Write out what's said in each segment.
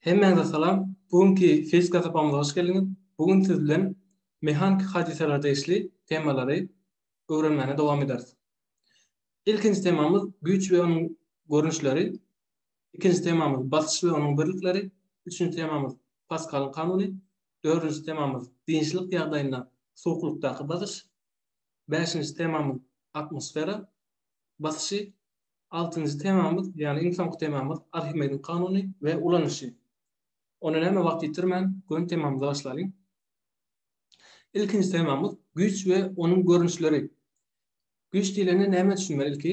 Hemmäňize salam. Bu günki fizika sapagymyza hoş geldiňiz. Bu gün siz bilen mehaniki hadysalara degişli temalary öwrenmäne dowam ederis. Ilkinji temamyz güýç we onuň görnüşleri. Ikinji temamyz basyş we onuň birlikleri. Üçünji temamyz Paskalyň kanuny. Dördünji temamyz dynçlyk ýagdaýynda suwuklykdaky basyş. Bäşinji temamyz atmosfera basyşy. Altynjy temamyz, ýagny iň soňky temamyz Arhimediň kanuny we ulanyşy. Onda näme wagt ýitirmän, göni temamyza başlalyň. Ilkinji temamyz güýç we onuň görnüşleri. Güýç diýlende näme düşünmeli ilki?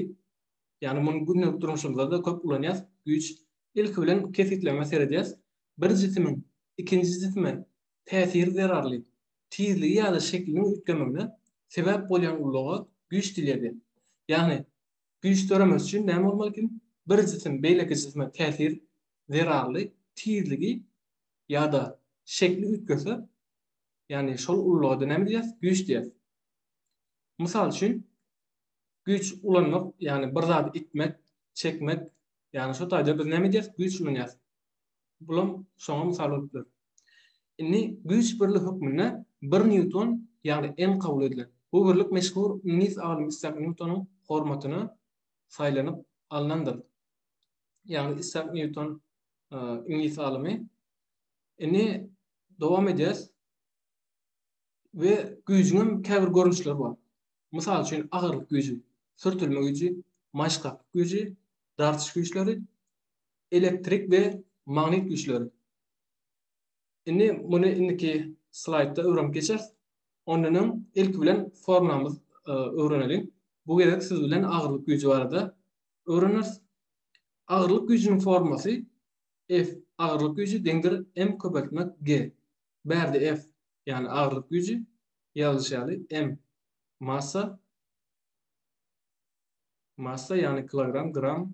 Ýagny muny gündelik durmuşymyzda-da köp ulanýas. Güýç ilki bilen kesgitlemä seredýäs. Bir jisimiň ikinji jisime täsiri zerarly tizligi ýa-da şekliniň üýtgemegine sebäp bolýan ulaga güýç diýilýär. Ýagny Güýç döremesi üçin näme bolmaly eken? Bir jisim beýleki jisime täsir zerarly tizligi ýa-da şekli üýtgese, ýagny şol ululaga-da näme diýýäs? Güýç diýýäs. Mysal üçin, güýç ulanmak, ýagny bir zady itmek, çekmek, ýagny şo taýda biz näme diýýäs? Güýç ulanýas. Bulam şoňa mysal bolup dur. Indi güýç birligi hökmünde bir nýuton, ýagny N kabul edilen. Bu birlik meşhur iňlis alymy Issak Nýutonyň hormatyna saýlanyp alnandyr. Ýagny Issak Nýuton iňlis alymy. Indi dowam edýäs. We güýjüň käbir görnüşleri bar. Mysal üçin agyrlyk güýji, sürtülme güýji, maşgaklyk güýji, dartyş güýçleri, Elektrik we magnit güýçleri. Indi muny indiki slaýdda öwrenip geçeris. Ondan öň ilki bilen formulamyzy öwreneliň. Bu gezek siz bilen agyrlyk güýji barada öwreneris. Agyrlyk güýjüniň formulasy F agyrlyk güýji deňdir M köpeltmek G. Bärde F, ýagny agyrlyk güýji, ýazylyşy ýaly M massa, massa ýagny kilogram, gram,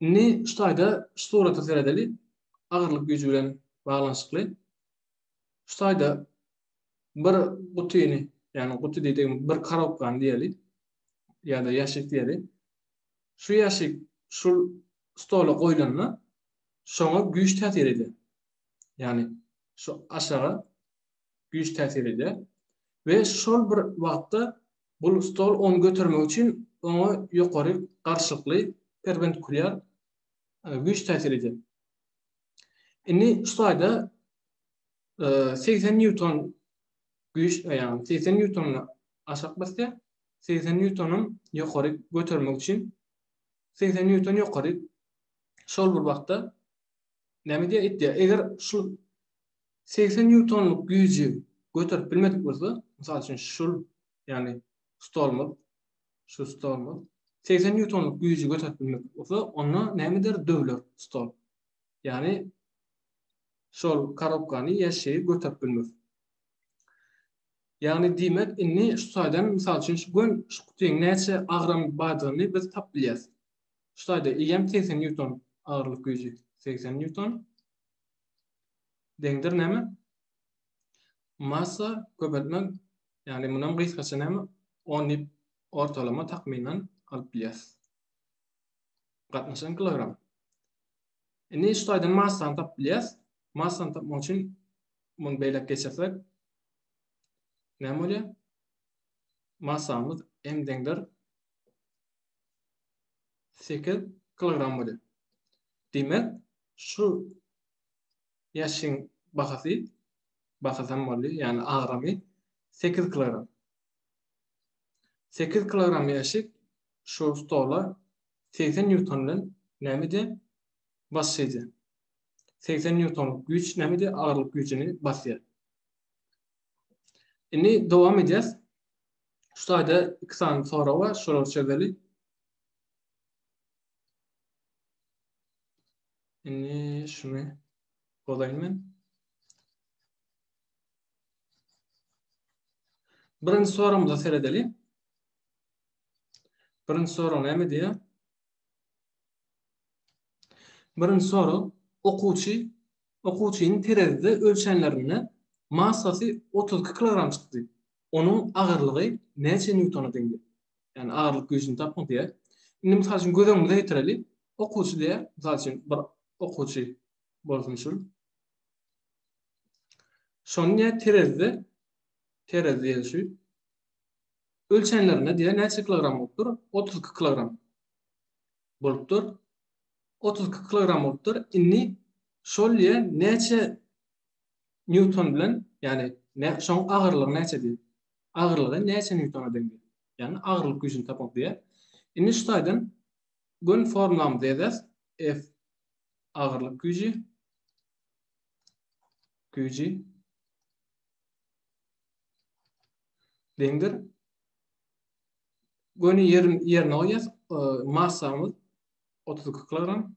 Indi şu taýda şu surata seredeli. Agyrlyk güýji bilen baglanyşykly. Şu taýda bir gutyny, ýagny guty diýdim, bir karobkany diýeli. Ýa-da ýaşyk diýeli. Şu ýaşyk şu stola goýlanda şoňa güýç täsir edýär. Ýagny şu aşaga güýç täsir edýär we şol bir wagtda Bu stol ony götermek üçin oňa ýokary garşylykly, perpendikulýar, güýç täsir edýär. Indi şu taýda segsen nýuton güýç, ýagny segsen nýutony aşak basýar, segsen nýutony ýokary götermek üçin segsen nýuton ýokary şol bir wagtda näme edýär? Itýär. Eger şu 80 nýutonlyk güýji göterip bilmedik bolsa, mysal üçin şul, ýagny stolumyz, şu stolumyz 80 nýutonlyk güýji göterip bilmedik bolsa, onda näme eder? Döwler stol. Ýagny şol korobkany ýa şeýi göterip bilmez. Ýagny diýmek, indi şu taýdan mysal üçin şu gün şu gutyň näçe agram bardygyny biz tapyp bilýäs. Şu taýda eýýäm 80 nýuton agyrlyk güýji, 80 nýuton. deňdir näme? Massa köpeltmek, ýagny mundan gysgaça näme? 10 diýip ortalama takmynan alyp bilýäris. Gatnaşan kilogram. Indi şu taýdan massany tapyp bilýäris. Massany tapmak üçin muny beýläk geçirsek näme bolýar? Massamyz m deňdir 8 kilogram bolýar. Diýmek, şu Ýaşyň bahasy, bahasam boldy, ýagny agramy 8 kilogram. 8 kilogram ýaşy şu stola 80 newton bilen nämede basýardy. 80 newton güýç nämede agyrlyk güýjüni basýar. Indi dowam edýäs. Şu taýda iki sany sorag bar, şolary çözeli. Indi şuny bozaýyn men. Birinji soragymyza seredeli. Birinji sorag näme diýýär? Birinji sorag okuwçy okuwçynyň terezide ölçenlerinde massasy 32 kilogram çykdy. onuň agyrlygy näçe nýutona deňdir? Ýagny agyrlyk güýjüni tapyň diýýär. Indi mysal üçin göz öňümize getireli. Okuwçy diýýär. Mysal üçin bir okuwçy bolsun şul. Şony diýýär terezide terez diýeli şu. Ölçenlerinde diýýär näçe kilogram bolupdyr? 32 kilogram bolupdyr. 32 kilogram bolupdyr. Indi şol diýýär näçe Nýuton bilen, ýagny nä şoň agyrlygy näçe diýip. Agyrlygy näçe nýutona deň diýip. Ýagny agyrlyk güýjüni tapmak diýýär. Indi şu taýdan göni formulamyzy ýazýas. F agyrlyk güýji güýji deňdir. Göni ýerin ýerine goýýas. Massamyz 32 kilogram.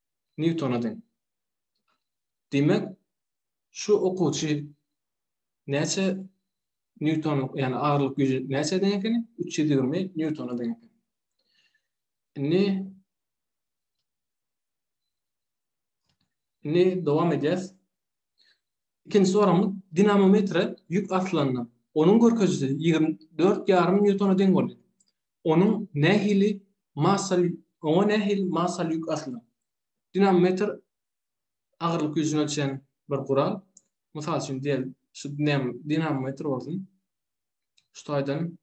Nýutona deň. Diýmek, şu okuwçy näçe Nýuton, ýagny agyrlyk güýji näçe deň ekeni? 320 Nýutona deň ekeni. Indi Indi dowam edýäs. Ikinji soramyz dinamometre ýük asylanda onuň görkezijisi 24,5 Nýutona deň boldy. Onuň nähili massa oňa nähili massaly ýük asylar? Dinamometr agyrlyk güýjüni ölçeýän bir gural. Mysal üçin diýeli, şu dinamometr bolsun. Şu taýdan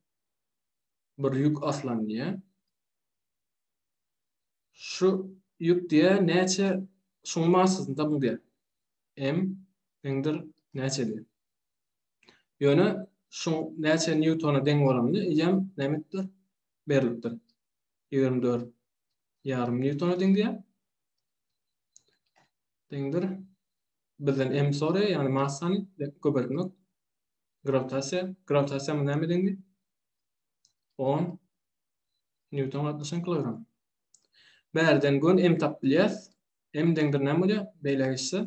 bir ýük aslan diýýär. Şu ýük diýýär näçe şuň massasynda bu diýýär. M indir näçe diýýär. Ýöne şu näçe nýutona deň bolanda ýem nämetdir? Berlipdir. 24 ýarym nýutona deň diýýär. Deňdir. Bizden M soraýar, ýagny massany köpeltmek. Grawitasiýa, grawitasiýa mu näme deňdi? 10 nýuton gatnaşan kilogram. Bärden gön M tapyp bilýäs. M deňdir näme bolýar? Beýle geçse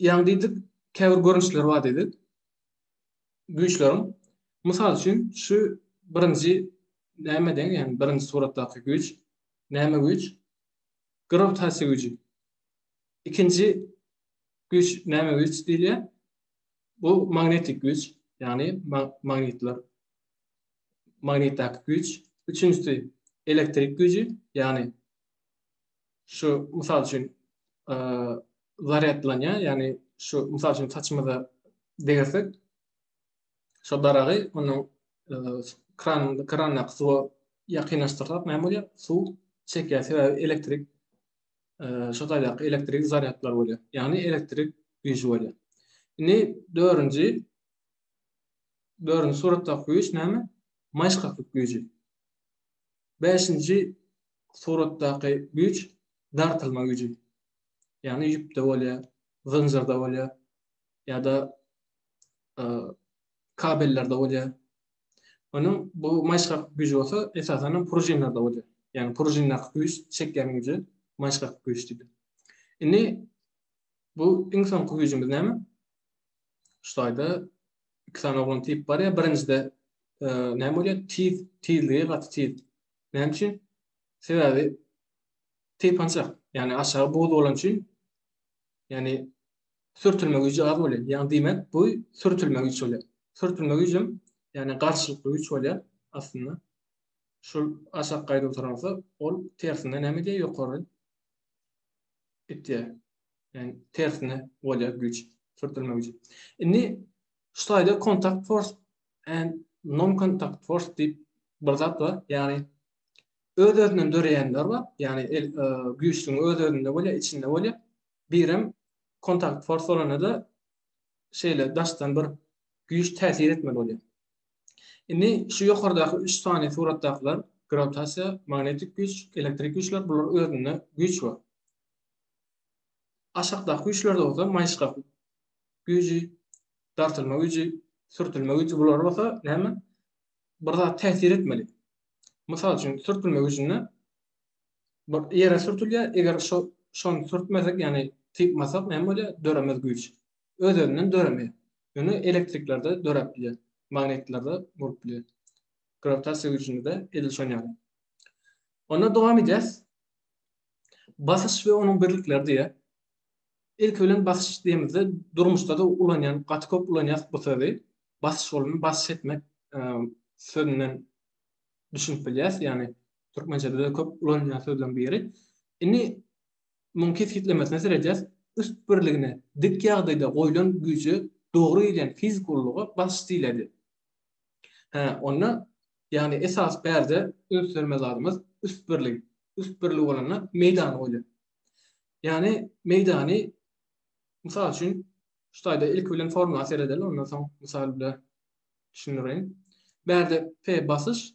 Ýaňy diýdik, käbir görnüşleri bar diýdik güýçleriň. Mysal üçin, şu birinji näme deň, ýagny birinji suratdaky güýç, näme güýç? Grawitasiýa güýji. Ikinji güýç näme güýç diýilýär? Bu magnetik güýç, ýagny magnitler, magnitdäki güýç. Üçünjisi elektrik güýji, ýagny şu mysal üçin zaryadlanýar, ýagny şu mysal üçin saçymyza degirsek, şu daragy onuň kran krandan suwa ýakynlaşdyrsak näme bolýar? Suw çekýär, sebäbi elektrik şu taýdaky elektrik zaryadlar bolýar. Ýagny elektrik güýji bolýar. Indi dördünji dördünji suratdaky güýç näme? Maýyşgaklyk güýji. Beşinji suratdaky güýç dartylma güýji. Ýagny ýüpde bolýar, zynjyrda bolýar ýa-da kabellerde bolýar. Onuň bu maýyşgak güýji bolsa esasanam pružinlerde bolýar. Ýagny pružindaky güýç çekýän güýje maýyşgak güýç diýilýär. Indi bu iň soňky güýjümiz näme? Şu taýda iki sany oglan tip bar ýa birinjide näme bolýar? Tiz, tizligi gaty tiz. Näme üçin? Sebäbi teýpançak, ýagny aşagy buz bolan üçin, ýagny sürtülme güýji az bolýar. Ýagny diýmek, bu sürtülme güýç bolýar. Sürtülme güýjüm, ýagny garşylykly güýç bolýar aslynda. Şol aşak gaýda oturan bolsa, ol tersine näme edýär? Ýokary gitýär. Ýagny tersine bolýar güýç, sürtülme güýji. Indi şu taýda kontakt fors and non-contact force diýip bir zat bar. Ýagny öz-özünden döreýänler bar. Ýagny el e, güýçlügiň öz-özünde bolýar, içinde bolýar. Birem kontakt force bolanda şeýle daşdan bir güýç täsir etmeli bolýar. Indi şu ýokardaky 3 sany suratdakylar grawitasiýa, magnetik güýç, elektrik güýçler bular özünde güýç bar. Aşakdaky güýçlerde bolsa maýyşgaklyk güýji, dartylma güýji, sürtülme güýji bular bolsa näme? Bir zat täsir etmeli. Mysal üçin, sürtülme güýjünde bir ýere sürtülýär, eger şo şony sürtmesek, ýagny typmasak näme bolýar? Döremez güýç. Öz-özünden döremeýär. Ýöne elektriklerde döräp bilýär. Magnitlerde bolup bilýär. Grawitasiýa güýjünde-de edil şonuň ýaly. Onda dowam edýäs. Basyş we onuň birlikleri diýýär. Ilki bilen basyş diýemizde durmuşda-da ulanýan, gaty köp ulanýas bu sözi. Basyş bolany basyş etmek sözünden düşünip bilýäs. Ýagny türkmençede de köp ulanylýan sözleriň biri. Indi muň kesgitlemesine seredýäs. Üst birligine, dik ýagdaýda goýlan güýje dogry gelýän fiziki ululyga basyş diýiledi. Hä, onda, ýagny esasy perde üns bermeli zadymyz üst birlik. Üst birlik bolanda meýdan goýlan. Ýani meýdany mysal üçin şu taýda ilki bilen formula seredeli ondan soň mysal bilen düşündireýin. Bärde P basyş,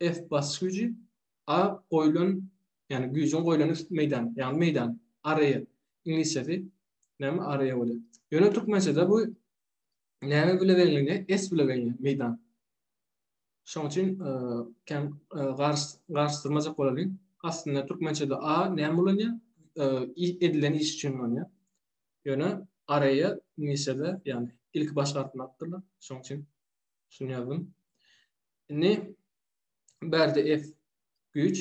F basyş güýji, A goýulan ýani güýjüň goýulan üst meýdan, ýani meýdan, area, iňlisçesi näme area bolýar. Ýöne türkmençede bu näme bile bellenilýär? S bile bellenilýär meýdan. Şoň üçin kän garyşdyrmajak bolalyň. Aslynda türkmençede a näme ulanýar? Edilen iş üçin ulanýar. Ýöne areýe iňlisçede, ýagny ilki baş harpyny alypdyrlar. Şoň üçin şuny ýazdym. Indi bärde F güýç.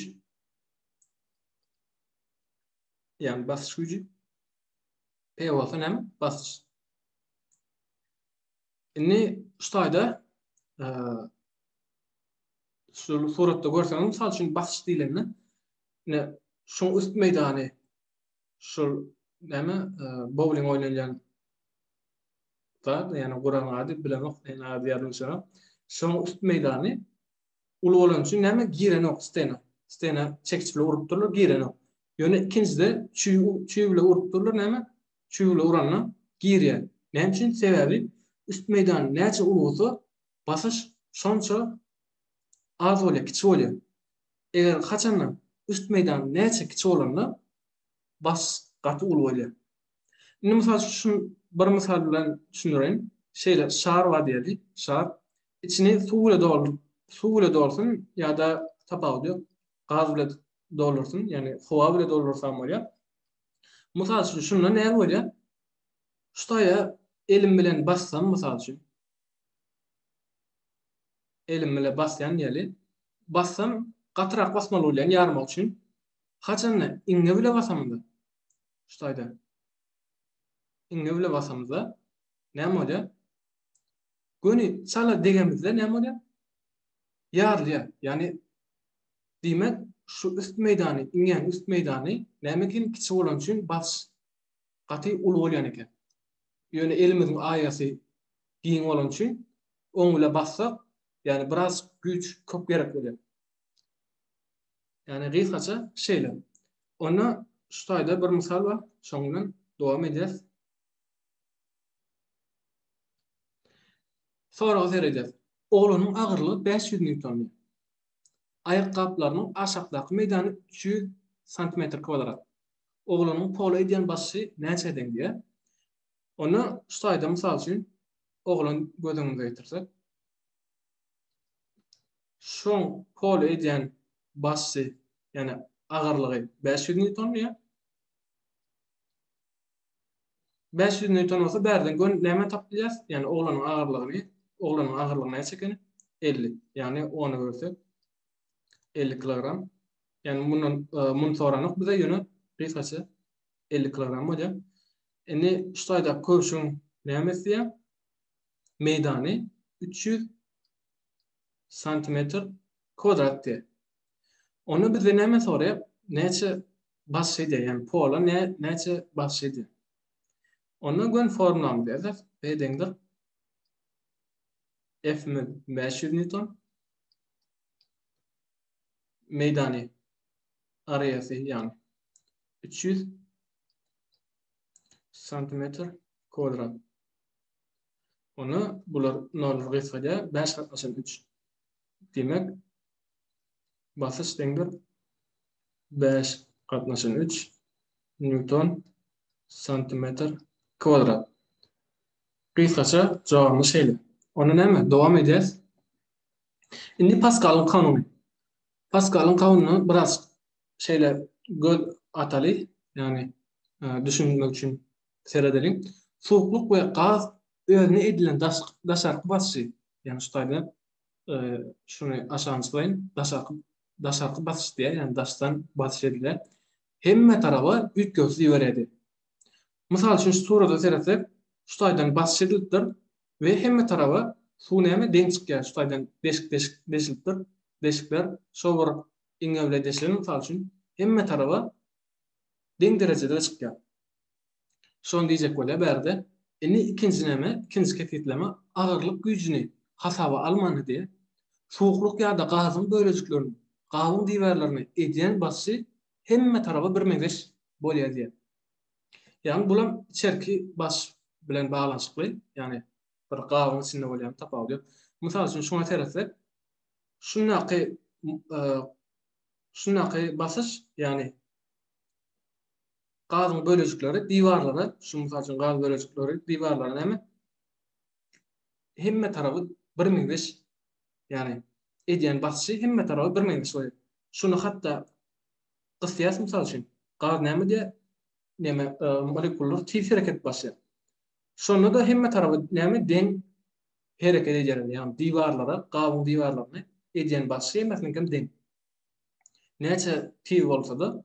Ýagny basyş güýji. P bolsa näme? Basyş. Indi şu taýda şu suratda görseňiz, mysal üçin basyş diýlende, ine şu üst meýdany şu näme bowling oýnalýan zat, ýani guran ady bilenok, ýani ady ýadyma düşenok. Şu üst meýdany uly bolan üçin näme girenok stena. Stena çekiç bilen urup durlar, girenok. Ýöne ikinjide çüý, çüý bilen urup durlar, näme çüwüle uranda girýär. Näme üçin? Sebäbi üst meýdan näçe uly bolsa, basyş şonça az bolýar, kiçi bolýar. Eger haçanda üst meýdan näçe kiçi bolanda, basyş gaty uly bolýar. Indi mysal üçin, bir mysal bilen düşündireýin. Şeýle şar bar diýeli, şar. Içini suw bile dolduryp, suw bile dolsun ýa-da tapawudy ýok, gaz bile doldursun, ýagny howa bile doldursa hem bolýar. Mysal üçin, şunda näme bolýar? Şutaýa elim bilen bassam, mysal üçin. Elim bilen basýan ýaly. Bassam, gatyrak basmaly bolýan ýarmak üçin. Haçanda iňňe bile basamda. Şutaýda. Iňňe bile basamda. Näme bolýar? Göni çala degemizde näme bolýar? Ýarylýar. Ýani Diýmek, şu üst meýdany, iňňäň üst meýdany näme üçin kiçi bolany üçin basyş gaty uly bolýan eken. Ýöne elimiziň aýasy giň bolany üçin oň bile bassak, ýagny biraz güýç köp gerek bolýar. Ýagny gysgaça şeýle. Onda şu taýda bir mysal bar, şoň bilen dowam edýäs. Soraga seredýäs. Oglanyň agyrlygy 500 newton. Aýakgaplarynyň aşakdaky meýdany üç ýüz santimetr kwadrat. Oglanyň pola edýän basşy näçä deň diýýär. Onda şu taýda mysal üçin oglan göz öňümize getirsek. Şoň pola edýän basşy, ýagny agyrlygy bäş ýüz nýuton diýýär. Bäş ýüz nýuton bolsa bärden gör nämä tapyp bilýäris? Ýagny oglanyň agyrlygyny, oglanyň agyrlygy näçe ekeni? Elli. Ýagny ony bölsek elli kilogram. Ýagny mundan e, muny soranok bize ýöne gysgaça elli kilogram bolýar. Indi şu taýda köwşüň näme isleýär? Meýdany üç ýüz santimetr kwadrat diýär. Onda bizden näme soraýar? Näçe Başydy, ýagny pola ne, näçe başydy. Onda gön formulaňyzy ýazyp, B deňdir. F mü 500 newton. Meýdany areasy ýagny 300 santimetr kwadrat. Onda bular nol gysgadýar, 5 gatnaşan 3. Diýmek, basyş deňdir bäş gatnaşan üç nýuton santimetr kwadrat. Gysgaça jogamy şeýle. Onda näme? Dowam edýäs. Indi Paskalyň kanuny. Paskalyň kanunyna biraz şeýle göz ataly, ýagny e, düşünmek üçin seredeliň. Suwuklyk we gaz özüne edilen daşarky basyşy, ýagny şu taýda e, şuny aşagyna çykaýyn, daşarky daşarky basyş diýer, ýagny daşdan basyş ediler, hemme taraba üýtgewsiz iberýärdi. Mysal üçin şu surata seretsek, şu taýdan basyş edilipdir we hemme taraba suw näme deň çykýar, şu taýdan deşik-deşik deşilipdir, deşikler şo bir iňňe bile deşilen mysal üçin, hemme taraba deň derejede çykýar. Şony diýjek bolýar bärde. Indi ikinjineme, ikinji kesgitleme agyrlyk güýjüni hasaba almandy diýip, suwuklyk ýa-da gazyň bölejiklerini, gabyň diwarlaryny edýän basyşy hemme taraba birmeňzeş bolýar diýýär. Ýagny bulam içerki basyş bilen baglanyşykly, ýagny bir gabyň içinde bolýan tapawudy ýok. Mysal üçin şuňa seretsek, şundaky şundaky basyş, ýagny gazyň bölejikleri diwarlara, şu mysal üçin gaz bölejikleri diwarlara näme? Hemme tarapy birmeňzeş, ýagny edýän basyşy hemme tarapy birmeňzeş bolýar. Şuny hatda gysýas mysal üçin, gaz näme diýe? Näme, e, molekullar tiz hereket başlaýar. Şonda da hemme tarapy näme deň hereket edýär, ýagny diwarlara, gazyň diwarlaryna edýän basyşy hemmesiniňki hem deň. Näçe tiz bolsa-da,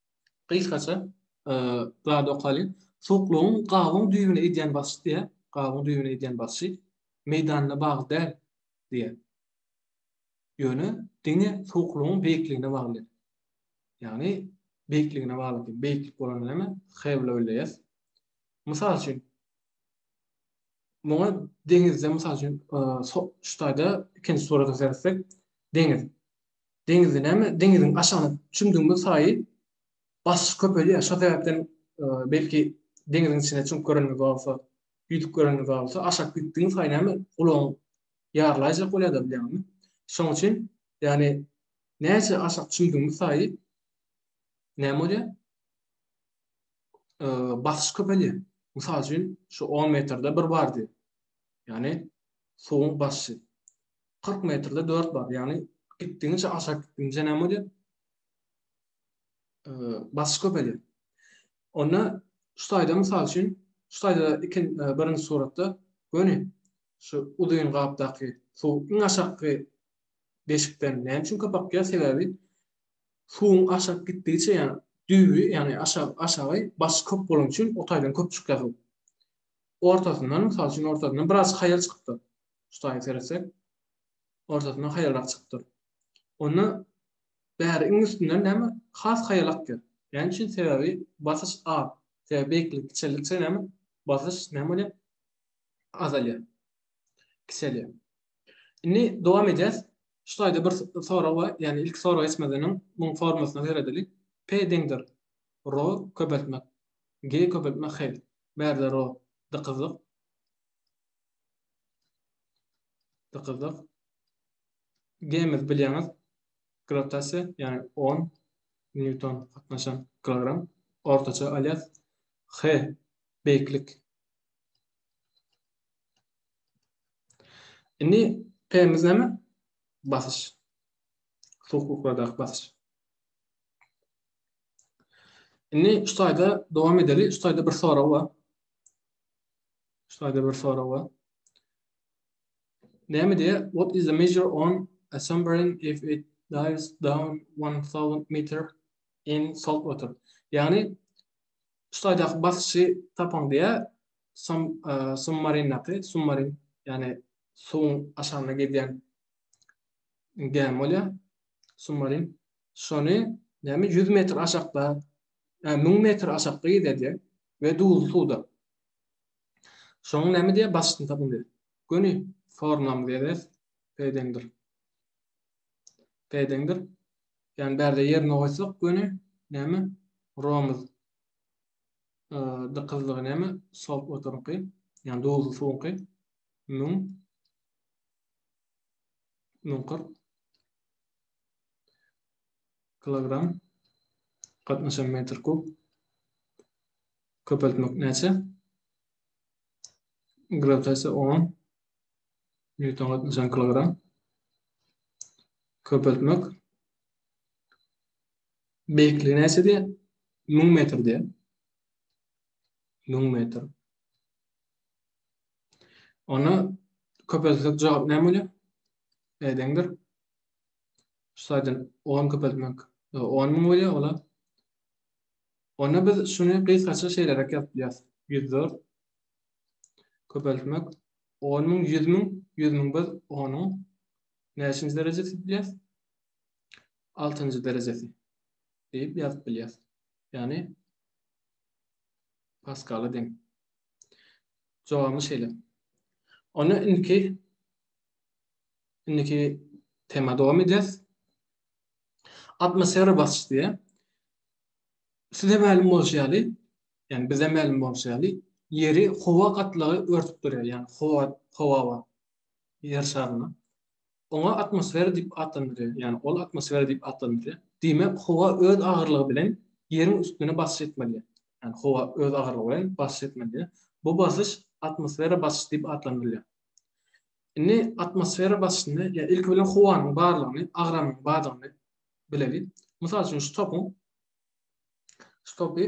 Gysgaça zat okaly. Soklugyň gabyň düýbüne edýän basyşy diýýär. Gabyň düýbüne edýän basyşy meýdanyna bagly däl diýýär. Ýöne diňe soklugyň beýikligine bagly. Ýagny beýikligine bagly diýip, beýiklik bolanda näme? Hewlewleýas. Mysal üçin, muňa deňizde, mysal üçin, şu taýda ikinji surata seretsek, deňiz. deňizi näme, deňiziň aşagyna çümdügimiz saýy basyş köpelýär. Şo sebäpden belki deňiziň içine çümüp göreniňiz bolsa, ýüzüp göreniňiz bolsa, aşak gitdigiň saýy näme gulagyň ýarlaýjak bolýar-da bilýäňmi? Şoň üçin ýagny näçe aşak çümdügimiz saýy näme bolýar? Basyş köpelýär. Mysal üçin, şu 10 metrde bir bardy. Ýagny suwuň basyşy. 40 metrde 4 bar. Yani gitdigiňçe aşak gitdigiňçe näme bolýar? Basyş köpelýär. Onda şu taýda mysal üçin, şu taýda ikin birinji suratda göni şu uzyn gapdaky suw iň aşakky deşikden näme üçin köp akýar? Sebäbi suwuň aşak gitdigiçe ýani düýbi, ýani aşak aşagy basyş köp bolany üçin o taýdan köp çykýar. Ortasyndan, mysal üçin ortasyndan biraz haýal çykypdyr. şu taýy seretsek, ortasyndan haýalrak çykypdyr. Onda bäri iň üstünden näme has haýal akýar. Näme üçin? Sebäbi basyş az. Sebäbi beýiklik kiçeldikçe näme? Basyş näme bolýar? Azalýar. Kiçelýär. Indi dowam edýäs. Şu taýda bir sorag bar. Ýagny ilki sorag etmeden öň muň formasyna seredeli. P deňdir. Ro köpeltmek. G köpeltmek hel. Bärde ro dykyzlyk. Dykyldyk. Gemiz bilýäňiz, grawitasiýa, ýagny 10 newton gatnaşan kilogram ortaça alýas. H beýiklik. Indi P-miz näme? Basyş. Suwuklardaky basyş. Indi şu taýda dowam edeli. Şu taýda bir sorag bar. Şaýda bir sorag bar. Näme diýýär? What is the measure on a submarine if it dives down 1000 meter in salt water? Ýagny şaýdaky basyşy tapaň diýýär. Sum e, submarindaky submarin ýagny suwuň aşagynda gidýän gämi bolýar. Submarin. Şony näme 100 metr aşakda, 1000 metr aşakda gidýär diýär. we duzly suwda. Şoň näme diýýär başyny tapyň diýýär. Göni formlamyz ýazýas. P deňdir. P deňdir. Ýani bärde ýerine goýsak göni näme? Romuz. Dykyzlygy näme? Salt waterňky. Ýani duzly suwuňky. Müň. Müň kyrk. kilogram gatnaşan metr kub köpeltmek näçe grawitasiýa 10 newton gatnaşan kilogram köpeltmek beýikligi näçe diýýär 1000 metr diýýär 1000 metr Ona köpeltsek jogap näme bolýar? Edeňdir. şu saýdan on köpeltmek on müň bolýar ola. Onda biz şuny gysgaça şeýleräk ýazyp bilýäris. 104 köpeltmek 10 müň, 100 müň, 100 müň biz onuň näçinji derejesi diýip bilýäris? 6-njy derejesi diýip ýazyp bilýäris. Ýagny Paskala deň. Jogaby şeýle. Onda indiki Indiki tema dowam edýäs. Atmosfera basyş diýe. Size mälim bolşy ýaly, ýani bize mälim bolşy ýaly, ýeri howa gatlagy örtüp durýar, ýani howa, howa bar. Ýer şaryny. Oňa atmosfera diýip atlandyrýar, ýani ol atmosfera diýip atlandyrýar. Diýmek, howa öz agyrlygy bilen ýeriň üstüne basyş etmeli. Ýani howa öz agyrlygy bilen basyş etmeli. Bu basyş atmosfera basyş diýip atlandyrylýar. Indi atmosfera basyşyny, ýa ilki bilen howanyň barlygyny, agramyň bardygyny bileli. Mysal üçin şu topuň şu topy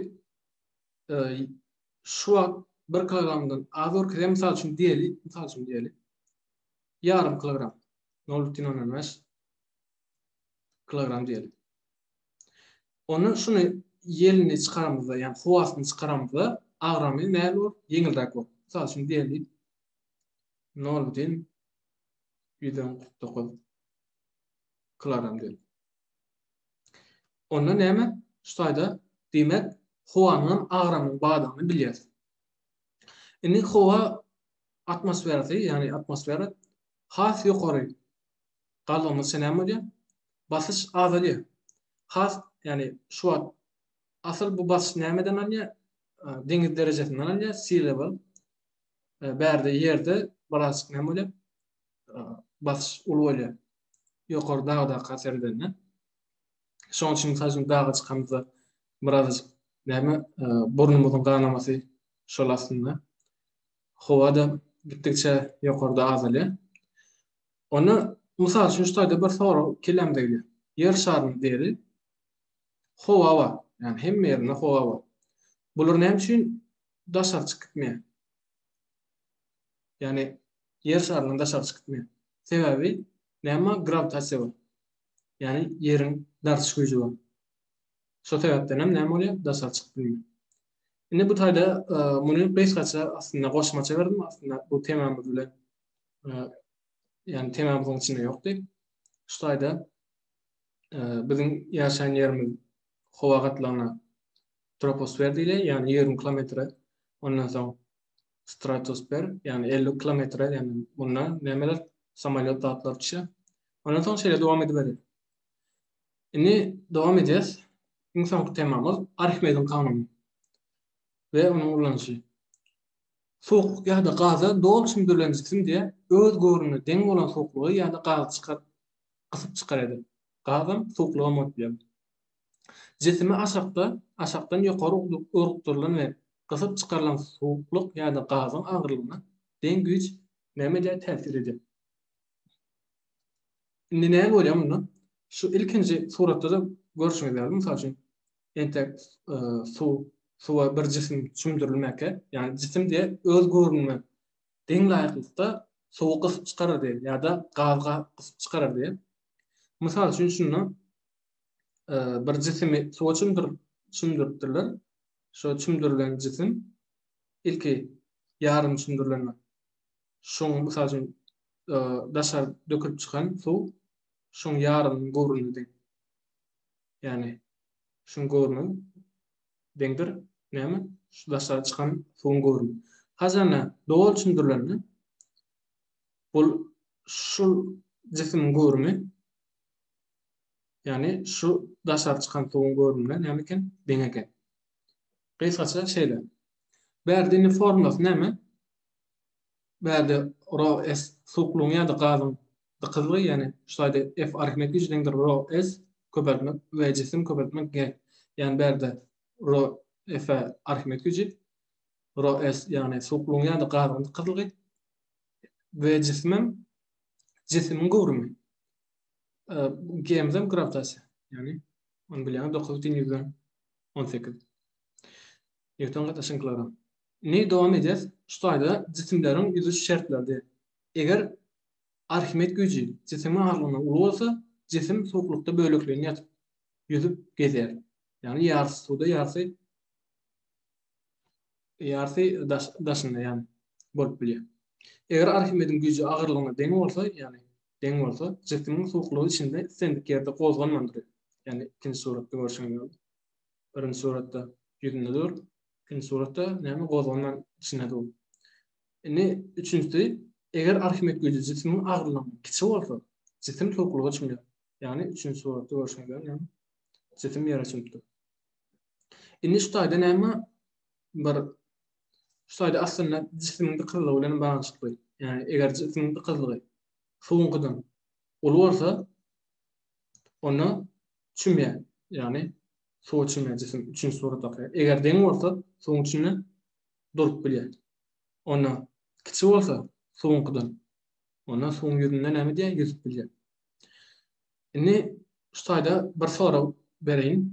şu wagt 1 kilogramdan az görkezýär. Mysal üçin diýeli, mysal üçin diýeli. Ýarym kilogram. 0,05 kilogram diýeli. Onda şuny ýelini çykaramyzda, ýa howasyny çykaramyzda agramy näme bolar? Ýeňilräk bolar. Mysal üçin diýeli. nol dil ýüz on kyrk dokuz klaram dil. Onda näme? Şu taýda diýmek howanyň agramyň bardygyny bilýäris. Indi howa atmosferasy, ýagny atmosfera has ýokary galdygyny senem bolýar. Basyş azalýar. Has, ýagny şu wagt asyl bu basyş nämeden alýar? Deňiz derejesinden alýar, sea level. e, bärde ýerde biraz näme bolýar? E, basyş uly bolýar. Ýokary dagda kaser edende. Şoň üçin mysal üçin daga çykamyzda biraz näme e, burnumyzyň ganamasy şol aslynda. Howa da gitdikçe ýokarda azalýar. Ony mysal üçin şu taýda bir sorag kelamda gelýär. Ýer şarynyň deri howa bar. Ýani hemme ýerinde howa bar. Bular näme üçin daşary çykyp gitmeýär. Ýagny ýer şaryndan daşary çykyp gitmeýär. Sebäbi näme grawitasiýa bar. Ýagny ýeriň dartyş güýji bar. Şo sebäpden hem näme bolýar? Daşary çykyp bilmeýär. Indi bu taýda muny gysgaça aslynda goşmaça berdim. Aslynda bu temamyz bilen ýagny temamyzyň içinde ýokdy. Şu taýda biziň ýaşaýan ýerimiz howa gatlagyna troposfer diýilýär, ýagny ýigrimi kilometre, ondan soň stratosfer, ýagny elli kilometre, ýagny munda nämeler, samolýot zatlar düşýär. Ondan soň şeýle dowam ediberýär. Indi dowam edýäs. Iň soňky temamyz Arhimediň kanuny we onuň ulanyşy. Suwuk ýa-da gaza doly çümdürilen jisim diýe öz göwrüne deň bolan suwuklygy ýa-da gazy çykar, gysyp çykar eder. Gazam, suwuklygam bolup biler. Jisimi aşakda, aşakdan ýokary urukdyrylan we gysyp çykarylan suwuklyk ýa-da gazyň agyrlygyna deň güýç nämedär täsir edýär. Indi näme bolýar munda? Şu ilkinji suratda-da görşüňiz ýaly, mysal üçin, entek suw, suwa bir jisim çümdürilmäkä, ýagny jisim diýe öz göwrümiňe deň laýyklykda suwy gysyp çykarar diýen ýa-da gazy gysyp çykarar diýen. Mysal üçin, şunda bir jisimi suwa çümdürip çümdüripdirler. Şo çümdürilen jisim ilki ýarym çümdürilen şoň mysal üçin daşar dökülip çykan suw şoň ýarym gowruny deň. Ýani şoň gowruny deňdir. Näme? Şu daşar çykan suwuň gowruny. Hazana doly çümdürilende bul şu jisimiň gowruny Ýagny şu daşary çykan suwuň görnümine näme eken? Deň eken. Gysgaça şeýle. Bärde indi formulasy näme? Bärde rho s suwuklygyň ýa-da gazyň dykyzlygy, ýagny şu taýda F arhimed güýji deňdir rho s köpeltmek we jisim köpeltmek g. Ýagny bärde rho F arhimed güýji rho s ýagny suwuklygyň ýa-da gazyň dykyzlygy we jisimem jisimiň göwrümi. Gemzem grawitasiýa, ýagny ony bilýäňiz 9 deň ýüzden 18. Newton gatnaşygyny klara. Indi dowam edýäs. Şu taýda jisimleriň ýüzüş şertleri. Eger Arhimed güýji jisimiň agyrlygyna uly bolsa, jisim suwuklykda bölekleýin ýatyp, ýüzüp gezýär. Ýagny ýarsy suwda, ýarsy ýarsy daşynda ýagny bolup bilýär. Eger Arhimediň güýji agyrlygyna deň bolsa, ýagny deň bolsa, jisimiň suwuklygy içinde islendik ýerde gozganman durýar. Ýagny ikinji suratda görşüňiz ýaly. Birinji suratda ýüzünde dur, ikinji suratda näme gozganman içinde dur. Indi üçünjisi, eger Arhimed güýji jisimiň agyrlygyndan kiçi bolsa, jisim suwuklyga çümýär. Ýagny üçünji suratda görşüňiz ýaly näme? Jisim ýere çümüpdir. Indi şu taýda näme bir Şu taýda aslynda jisimiň dykyzlygy bilen baglanyşykly. Ýagny eger jisimiň dykyzlygy suwuňkydan uly bolsa, onda çümýär. Ýagny suwa çümýär jisim üçünji suratdaky. Eger deň bolsa, suwuň içinde durup bilýär. Onda kiçi bolsa suwuňkydan, onda suwuň ýüzünde näme diýýär? Ýüzüp bilýär. Indi şu taýda bir sorag bereýin.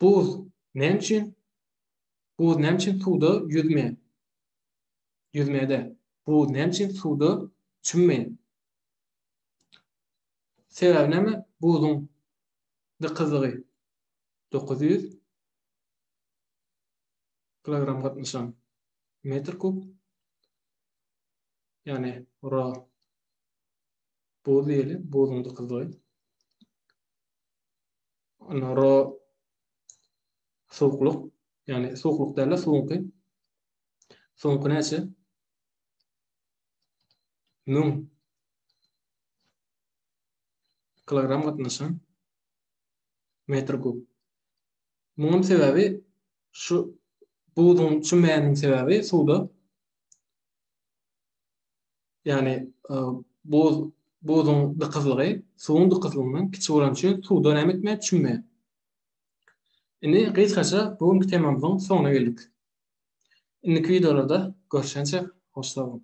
Buz näme üçin Buz näme üçin suwda ýüzmeýär? Ýüzmeýär-de. Buz näme üçin suwda çümmeýär? Sebäbi näme? Buzuň dykyzlygy 900 kilogram gatnaşan metr kub. Ýagny ora buz diýeli, buzuň dykyzlygy. Ora Suwuklyk, ýagny suwuklyk däl-de suwuňky. Suwuňky näçe? 1000 kilogram gatnaşan metr kub. Munuň sebäbi şu buzuň çümmäniň sebäbi suwda ýagny e, buz buzuň dykyzlygy suwuň dykyzlygyndan kiçi bolan üçin suwda näme etme çümme. Indi gysgaça bu günki temamyzyň soňuna geldik. Indiki wideolarda görüşençe hoş sag boluň.